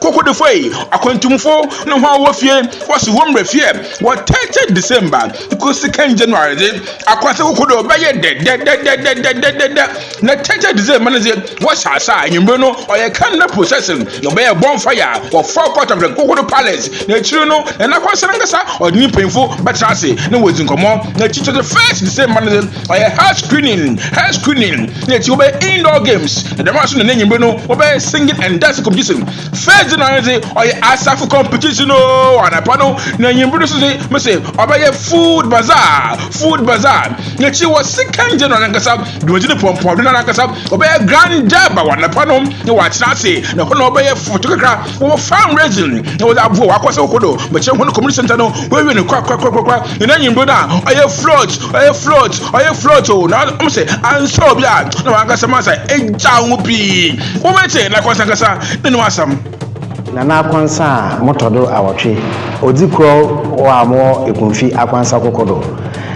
Kokodefo yi, akwantumfo no hɔn wɔ fie, wɔhyɛ hɔn mberɛ fie, wɔtɛɛtɛɛ December kosi kan January dze, akwantse koko do bɛyɛ dɛdɛdɛdɛdɛdɛdɛdɛdɛdɛ, na tɛɛtɛɛ December no dze, wɔhyɛ ase a ewimbir no ɔyɛ candle procession, wɔbɛyɛ bonfire wɔ forecourt of the Kokodo Palace, na ekyir no hɛn akwanhyɛ nankasa ɔdze ne mpanyimfo bɛtsena ase na woedzi nkɔmbɔ, na ekyir so dze first December no dze, Ɔyɛ hair screening, hair screening, na ekyir wɔbɛyɛ indoor games, na dɛm ara so na n'enyimber no wɔbɛyɛ singing and dancing competition. First dze no ano dze ɔyɛ asafo competition o, anapa no na enyimber no so dze mese ɔbɛyɛ food bazaar, food bazaar, na ekyir wɔ second dze no arankasa dwumadzi no pɔnpɔn do no arankasa wɔbɛyɛ grand java wɔ anapa no na wɔatsena ase na hɔ na wɔbɛyɛ foto kakra. Wɔ Farm Raising na wɔdze aboa wɔ akɔsaw kɔ do bɛkyerɛ hɔn community centre no, woewie no korakorakorakora, hɛn enyimber no a ɔyɛ float, ɔyɛ float, ɔyɛ float o, na ɔmo se annsɛ obi a na ɔannkasa mu ansa egyaa ho pii. Wobɛtse Nakwansa ankasa no no asɛm. Na Nakwansa a motɔ do awɔtwe, odzi kor wɔ a mowɔ Ekunfi Akwansa koko do.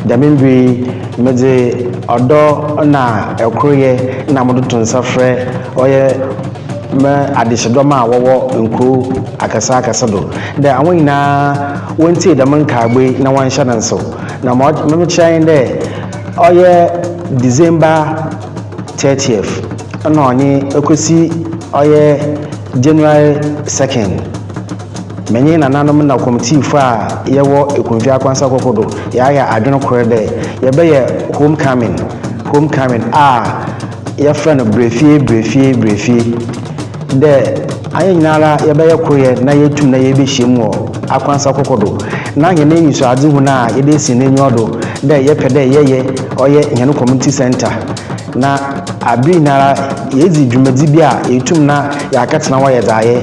Dɛm mber yi medze ɔdɔ na koryɛ na modoto nsa frɛ ɔyɛ. ma adehyedɔm a wɔwɔ nkurow akɛse akɛse do, dɛ hɔn nyina wontsie dɛm nkaabɔ yi na wɔnhyɛ no nsew. Na ma ɔky mekyerɛ nye dɛ, ɔyɛ December thirtieth na ɔnye okosi ɔyɛ January second, menye nananom na kɔmtsiifo a yɛwɔ Ekumfi Akwansa Koko do yɛayɛ adwen kor dɛ yɛbɛyɛ homecoming, homecoming a. yɛfrɛ no brɛfie brɛfie brɛfie dɛ ayɛ nyinara yɛbɛyɛ kor yɛ na yetum na yebehyiam wɔ akwansa kɔkɔ do na hɛn enyisoadzehu no a yɛdze esi n'enyiwa do dɛ yɛpɛ dɛ yɛyɛ ɔyɛ hɛn community centre na aber nyinara yedzi dwumadzi bi a yetum na yɛakɛtsena hɔ ayɛ dza ayɛ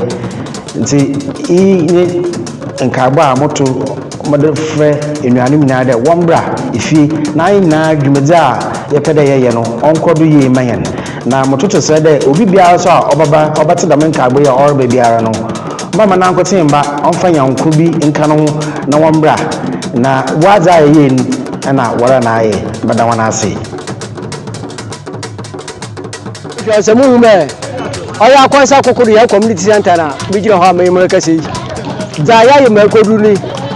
ntsi iyi nye nkaabɔ a moto. Wɔde frɛ enuanom nyinaa dɛ wɔmbra fie na hɛn nyinaa dwumadzi a yɛpɛ dɛ yɛyɛ no ɔnkɔ do yie mma hɛn. Na mototo serɛ dɛ obi biara so a ɔbɛba ɔbɛtse dɛm nkaabɔ yi a ɔreba biara no, ɔmma n'ankotsee mba, ɔmfa nyɛnko bi nka no ho na wɔmbra na wɔadze a yɛyɛe no na wɔara na ayɛ. Meda hɔn ase. If you are some woman, ɔyɛ akwansa koko do yɛ community center na bi gyina hɔ a mɛyɛ mu kɛse yi. Dza yɛayɛ ma ɛkɔduru ni,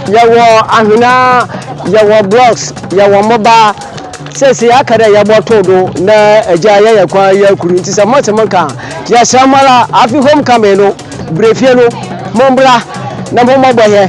yɛwɔ ahwena, yɛwɔ blocks, yɛwɔ mmoba. Sɛsei aka dɛ yɛbɔtow do na agya yɛyɛ kwan yɛ akuru. Nti sɛ motse mo nka a, yɛsrɛ mo ara, afe homecoming no, berɛfie no, mombra na mommɔbɔ hɛn.